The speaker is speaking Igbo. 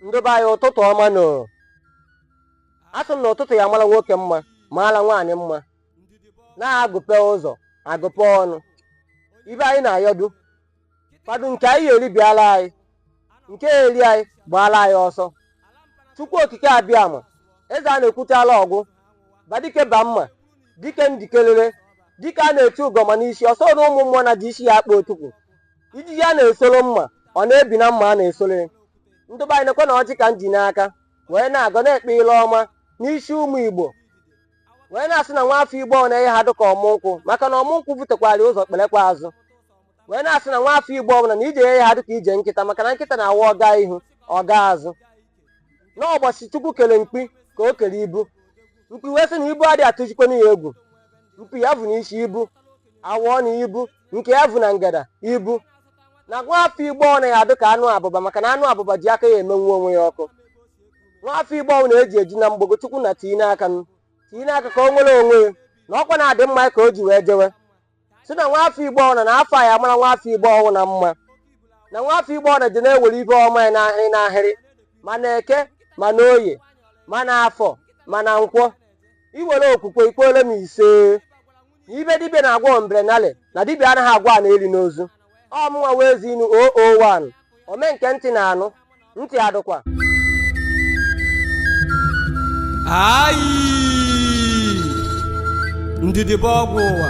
ndị be anyị ụtụtụ ọma nụ asị m na ụtụtụ ya mara nwoke mma maara nwaanyị mma na agụpe ụzọ agụpe ọnụ ibe anyị na-ayọdu kwado nke anyị ya-eri bịala anyị nke eri anyị gbaala anyị ọsọ chukwu okike abịama eze a na-ekwuchala ọgwụ badike ba mma dike ndikelere dike a na-eti ugo ọma n'isi ụsụ na ụmụ mmụọ na-eji isi ya akpa otukwu ijiji a na-esoro mma ọ na-ebi na mma a na-esoro ya ndị be anyị nekwe na ọjị ka m ji n'aka wee na-agọ na-ekpe ile ọma n'isi ụmụ igbo wee na-asị na nwa afọ igbo ọ na-enye ha dịka ọmụ nkwụ maka na ọmụ nkwụ butekwara ụzọ kperekwa azụ wee na-asị na nwa afọ igbo ọbụla na ije enye ha dịka ije nkịta maka na nkịta na-awa ọ gaa ihu ọ gaa azụ n'ụbọchị chukwu kere mkpi ka o kere ibu mkpi wee sị na ibu adịghị atụjikwana ya egwu mpi ya bu n'isi ibu afọ ọnụ ibu nke ya bu na ngada ibu na nwa afọ igbo ọ naghị adị ka anụ abụba maka na anụ abụba ji aka ya emenwu onwe ya ọkụ nwa afọ igbo ọ na-eje eje na mgbogo chukwu na tii n'aka m tii n'aka ka o nwere onwe ya na ọkwa na-adị mma ka o ji wee jewe si na nwa afọ igbo ọ na na afọ a ya mara nwa afọ igbo ọbụna mma na nwa afọ igbo ọ na ji na-enwere ibe ọma ya n'ahịrị n'ahịrị ma na eke ma na oye ma na afọ ma na nkwọ i nwere okwukwe i kwere m ise na ibe dibịa na-agwọ ombrenale na dibịa anaghị agwọ a na-eli n'ozu ọ mụnwa bụ eze inu 001 ome nke ntị na-anụ ntị adụkwa ayi ndidi bụ ọgwụ ụwa